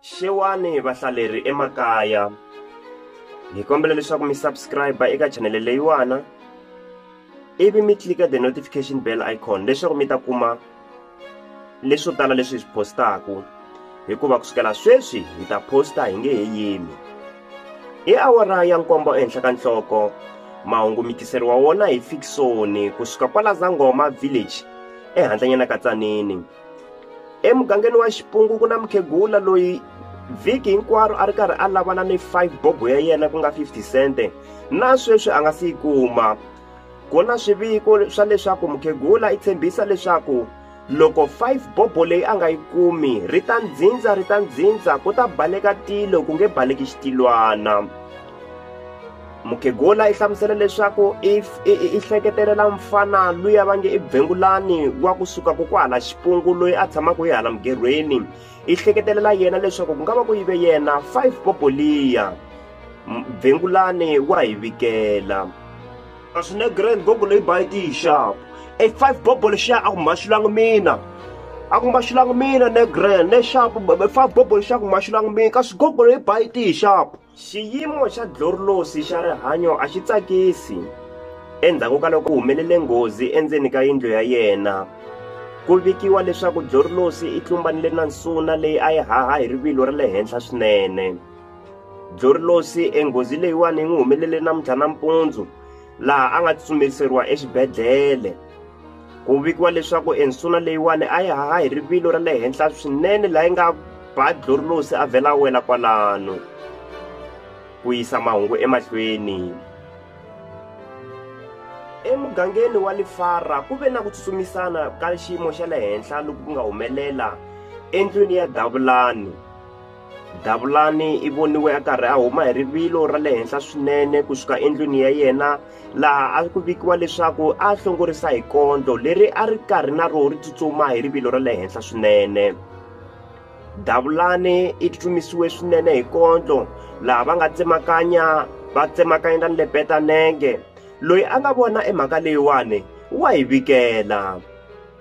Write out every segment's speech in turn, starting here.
xewani vahlaleri emakaya hi kombela leswaku mi subscribe eka chanele leyiwana ivi mi tlika the notification bell icon leswaku mi ta kuma leswo tala leswi hi swi postaku hikuva ku sukela sweswi hi ta posta hi nge he yimi i awara ya nkombo ehenhla ka nhloko mahungu mi tiseriwa wona hi fikisoni kusuka kwala zangoma village ehandlanyana ka tsanini emugangeni wa xipungu ku na mukhegula loyi vhiki hinkwaro a ri karhi a lavana ni 5 bobo ya yena ku nga 50 sente na sweswi a nga si yi kuma ku na swiviko swa leswaku mukhegula i tshembisa leswaku loko 5 bobo leyi a nga yi kumi ri ta ndzindza ri ta ndzindza ku ta baleka tilo ku nge baleki xitilwana mukhegula i hlamusela leswaku i hleketelela mfana luya va nge i bengulani wa kusuka ku kwahala xipungu loyi a tshamaka hi hala mugerhweni i hleketelela yena leswaku ku nga va ku yive yena five boboliya bengulani wa hi vikela a swi ne grand bobolo yi ba yi ti yi xapu e five bobolo xa a ku maxulangi mina a ku maxulangi mina ne grand ne xapu five bobolo xa ku maxulangi mina ka swigogolo yi ba yi ti yi xapu Xiyimo xa Dlorlosi xa rihanyo a xi tsakisi. Endzhaku ka loko ku humelele nghozi endzeni ka yindlu ya yena, ku vikiwa leswaku Dlorlosi i tlumbanile na nsuna leyi a yi haha hi rivilo ra le henhla swinene. Dlorlosi enghozi leyiwani yi n'wi humelele namuntlha nampundzu laha a nga tsutsumeriseriwa exibedhlele. ku vikiwa leswaku ensuna leyiwani a yi haha hi rivilo ra le henhla swinene laha yi nga ba dlorilosi a vhela a wela kwalano ku yisa mahungu emahlweni emugangeni wa lifara ku ve na ku tsutsumisana ka xiyimo xa le henhla loku ku nga humelela endlwini ya davulani davulani i voniwe a karhi a huma hi rivilo ra le henhla swinene kusuka endlwini ya yena laha a ku vikiwa leswaku a hlongorisa hi kondlo leri a ri karhi na roho ri tsutsuma hi rivilo ra le henhla swinene davulani i tsutsumisiwe swinene hi kondlo laha va nga tsemakanya va tsemakanya na lepeta nenge loyi a nga vona emhaka leyiwani wa yi vikela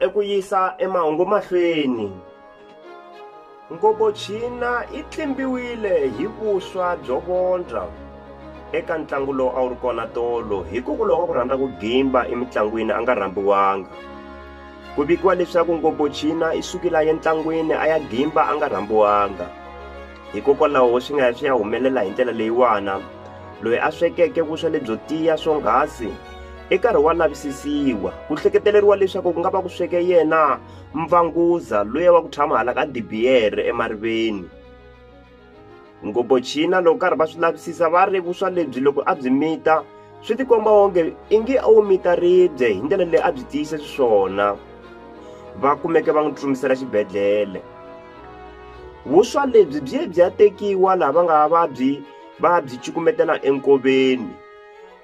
eku yisa emahungu mahlweni ngobochina yi tlimbiwile hi vuswa byo vondza eka ntlangu lowu a wu ri kona tolo hikokwalaho ka ku rhandza ku gimba emitlangwini a nga rhambiwanga ku vikiwa leswaku ngobochina i sukile a ye ntlangwini a ya gimba a nga rhambiwanga Hikokwalaho swi nga ya swi ya humelela hi ndlela leyiwana, loyi a swekeke vuswa lebyo tiya swonghasi i karhi wa lavisisiwa, ku hleketeleriwa leswaku ku nga va ku sweke yena mvanguza luya wa ku tshama hala ka dibiyere emariveni. Ngopfo China loko karhi va swi lavisisa va ri vuswa lebyi loko a byi mita swi tikomba onge ingi a wu mita ribye hi ndlela leyi a byi tiyise xiswona va kumeke va n'wi tsutsumisela xibedhlele vuswa lebyi byi ye byi ya tekiwa laha va nga va byi va byi cukumetela enkoveni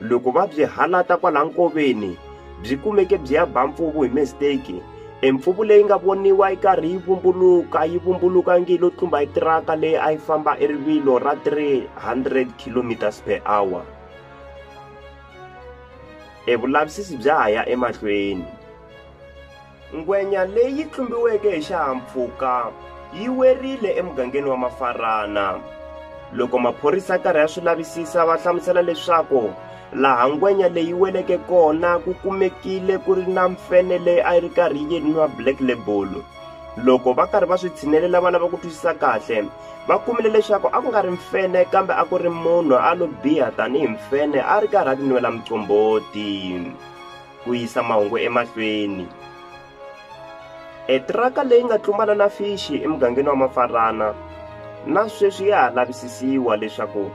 loko va byi halata kwala nkoveni byi kumeke byi ya ba mpfuvu hi mistake empfuvu leyi nga voniwa yi karhi yi vumbuluka yi vumbuluka ngi lo tlumba hi tiraka leyi a yi famba erivilo ra 300 kilometers per hour E vulavisisi bya ha ya emahlweni. Ngwenya leyi tlumbiweke hi xihahampfhuka yi werile emugangeni wa Mafarana. Loko maphorisa karhi ya swi lavisisa va hlamusela leswaku laha ngwenya leyi weleke kona ku kumekile ku ri na mfene leyi a yi ri karhi yi nwa black label loko va karhi va swi tshinelela va lava ku twisisa kahle va kumile leswaku a ku nga ri mfene kambe a ku ri munhu a lo biha tanihi mfene a ri karhi a ti nwela mucomboti ku yisa mahungu emahlweni etiraka leyi nga tlumbana na fixi emugangeni wa mafarana na sweswi ya ha lavisisiwa leswaku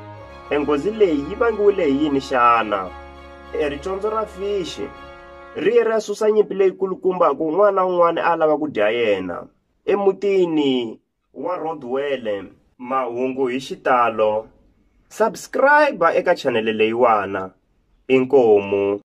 enghozi leyi yi vangiwile hi yini xana ericondzo ra fixi ri ye ra susa nyimpi leyikulukumba ku un'wana na un'wana a lava ku dya yena emutini wa rodwele mahungu hi xitalo subscribe eka chanele leyiwana inkomu